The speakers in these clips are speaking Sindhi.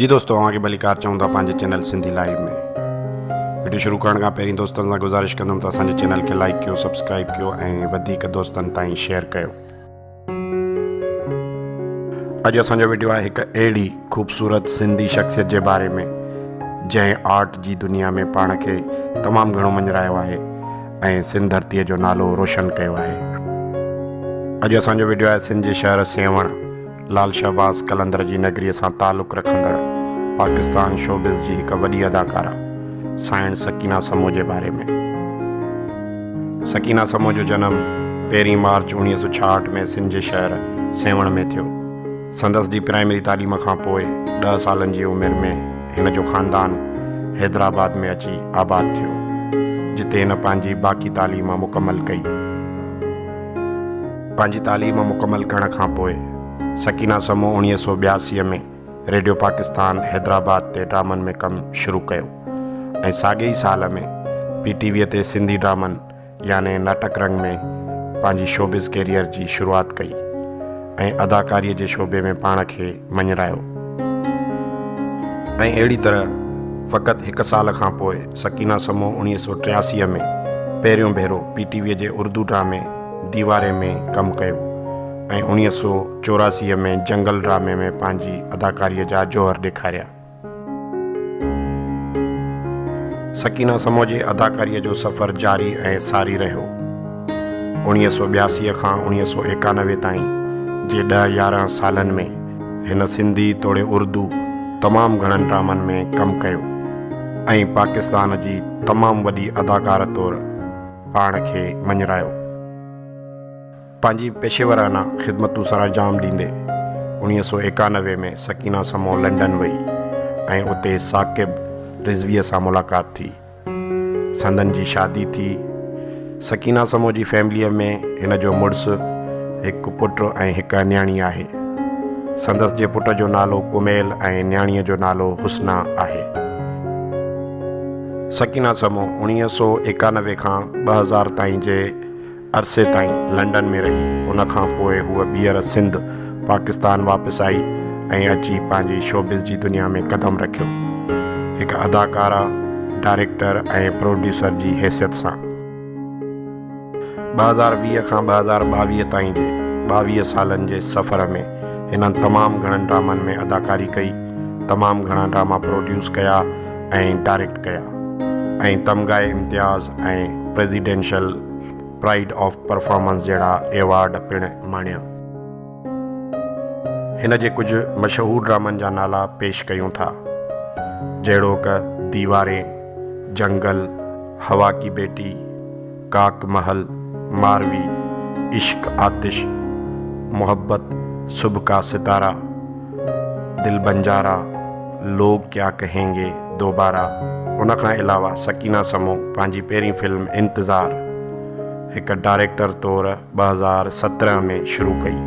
جي دوستو اوهان کي ڀليڪار چئون ٿا پنهنجي چينل سنڌي لائيو ۾ وڊيو شروع ڪرڻ کان پهرين دوستن سان گذارش ڪندم ته اسان جي چينل کي لائيڪ ڪيو سبسڪرائيب ڪيو ۽ وڌيڪ دوستن تائين شيئر ڪيو اڄ اسان جو وڊيو آهي هڪ اهڙي خوبصورت سنڌي شخصيت جي باري ۾ جنهن آرٽ جي دنيا ۾ پاڻ کي تمام گهڻو مڃرايو آهي ۽ سنڌ ڌرتيء جو نالو روشن ڪيو آهي. اڄ اسان جو وڊيو آهي سنڌ جي شهر سيوهڻ، لال شهباز قلندر جي نگريء سان تعلق رکندڙ پاڪستان شوبز جي هڪ وڏي اداڪاره سائڻ سڪينه سمون جي باري ۾. سڪينه سمون جو جنم پهرين مارچ اوڻيهه سؤ ڇاهٺ ۾ سنڌ جي شهر سيوهڻ ۾ ٿيو. سندس جي پرائمري تعليم کان پوء ڏهه سالن جي عمر ۾ هن جو خاندان حيدرآباد ۾ اچي آباد ٿيو، جتي هن پنهنجي باقي تعليم مڪمل ڪئي. پنهنجي تعليم مڪمل ڪرڻ کان پوء سڪينه سمون اڻيهه سؤ ٻياسي ۾ ريڊيو پاڪستان حيدرآباد تي ڊرامن ۾ ڪم شروع ڪيو ۽ ساڳئي ئي سال ۾ پي ٽي ويء تي سنڌي ڊرامن يعني ناٽڪ رنگ ۾ پنهنجي شوبز ڪيريئر جي شروعات ڪئي ۽ اداڪاريء جي شعبي ۾ پاڻ کي مڃرايو ۽ اهڙي طرح فقط هڪ سال کان پوء سڪينه سمون اوڻيهه سؤ ٽياسي ۾ پهريون ڀيرو پي ٽي ويء جي اردو ڊرامي ديواري ۾ ڪم ڪيو ۽ اوڻيهه سؤ چوراسي ۾ جنگل ڊرامي ۾ پنهنجي اداڪاريء جا جوهر ڏيکاريا. سڪينه سمو جي اداڪاريء جو سفر جاري ۽ ساري رهيو. اوڻيهه سؤ ٻياسي کان اوڻيهه سؤ ايڪانوي تائين جي ڏهه يارهن سالن ۾ هن سنڌي توڙي اردو تمام گهڻن ڊرامن ۾ ڪم ڪيو ۽ پاڪستان جي تمام وڏي اداڪاره طور پاڻ کي مڃرايو. پنهنجي پيشيورانه خدمتون سرانجام ڏيندي اڻيهه سؤ ايڪانوي ۾ سڪينه سمون لنڊن وئي ۽ اتي ثاقب رضويء سان ملاقات ٿي. سندن جي شادي ٿي. سڪينه سمون جي فيمليء ۾ هن جو مڙس، هڪ پٽ ۽ هڪ نياڻي آهي. سندس جي پٽ جو نالو ڪميل ۽ نياڻيء جو نالو حسنا آهي. سڪينه سمون اڻيهه سؤ ايڪانوي کان ٻه هزار تائين جي عرصي تائين لنڊن ۾ رهي، ان کان پوء هوء ٻيهر سنڌ، پاڪستان، واپس آئي ۽ اچي پنهنجي شوبز جي دنيا ۾ قدم رکيو، هڪ اداڪاره، ڊائريڪٽر ۽ پروڊيوسر جي حيثيت سان. ٻه هزار ويهه کان ٻه هزار ٻاويهه تائين جي ٻاويهه سالن جي سفر ۾ هنن تمام گهڻن ڊرامن ۾ اداڪاري ڪئي، تمام گهڻا ڊراما پروڊيوس ڪيا ۽ ڊائريڪٽ ڪيا ۽ Tamgha Imtiaz ۽ presidential pride of performance جهڙا ايوارڊ پڻ ماڻيا. هن جي ڪجهه مشهور ڊرامن جا نالا پيش ڪيون ٿا، جهڙوڪ، ديوارين، جنگل، هوا ڪي بيٽي، ڪاڪ محل، ماروي، عشق آتش، محبت، صبح ڪا ستارا، دل بنجارا، لوگ ڪيا ڪهين گي دوبارا ان کان علاوه سڪينه سمو پنهنجي پهرين فلم انتظار هڪ ڊائريڪٽر طور ٻه هزار سترهن ۾ شروع ڪئي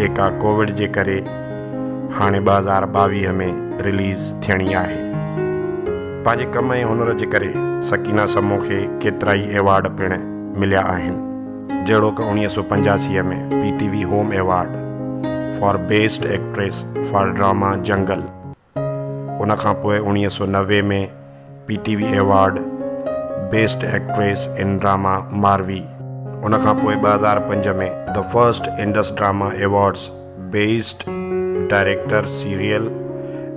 جيڪا ڪووڊ جي ڪري هاڻي ٻه هزار ٻاويهه ۾ رليز ٿيڻي آهي پنهنجي ڪم ۽ هنر جي ڪري سڪينه سمو کي ڪيترائي ايوارڊ پڻ مليا آهن. جهڙوڪ اوڻيهه سؤ پنجاسي ۾ P T V home award for best actress for drama جنگل، ان کان پوء اوڻيهه سؤ نوي ۾ P T V award best actress in drama Marvi, ان کان پوء ٻه هزار پنج ۾ the first Indus drama awards best director serial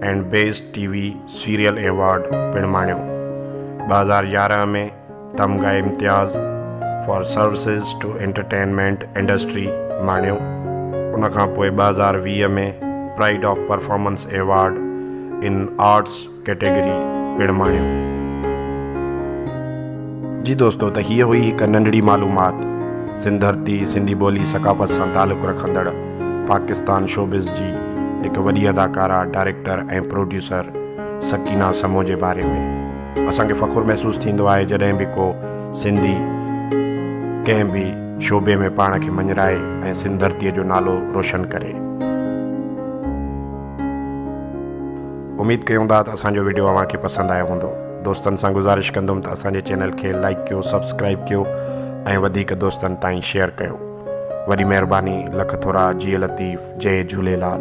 and best T V serial award پڻ ماڻيو، ٻه هزار يارهن ۾ Tamgha Imtiaz for services to entertainment industry ماڻيو. ان کان پوء ٻه هزار ويهه ۾ pride of performance award in arts category پڻ ماڻيو. جي دوستو ته هيء هئي هڪ ننڍڙي معلومات سنڌ ڌرتي، سنڌي ٻولي ثقافت سان تعلق رکندڙ پاڪستان شوبز جي هڪ وڏي اداڪارا، ڊائريڪٽر ۽ پروڊيوسر سڪينه سمون جي باري ۾. اسان کي فخر محسوس ٿيندو آهي جڏهن به ڪو سنڌي ڪنهن به شعبي ۾ پاڻ کي مڃرائي ۽ سنڌ ڌرتي جو نالو روشن ڪري. اميد ڪيون ٿا ته اسان جو وڊيو اوهان کي پسند آيو هوندو. دوستن سان گذارش ڪندم ته اسان جي چينل کي لائيڪ ڪيو، سبسڪرائيب ڪيو ۽ وڌيڪ دوستن تائين شيئر ڪيو. وڏي مهرباني. لک ٿورا. جيئي لطيف. جئي جهوليلال.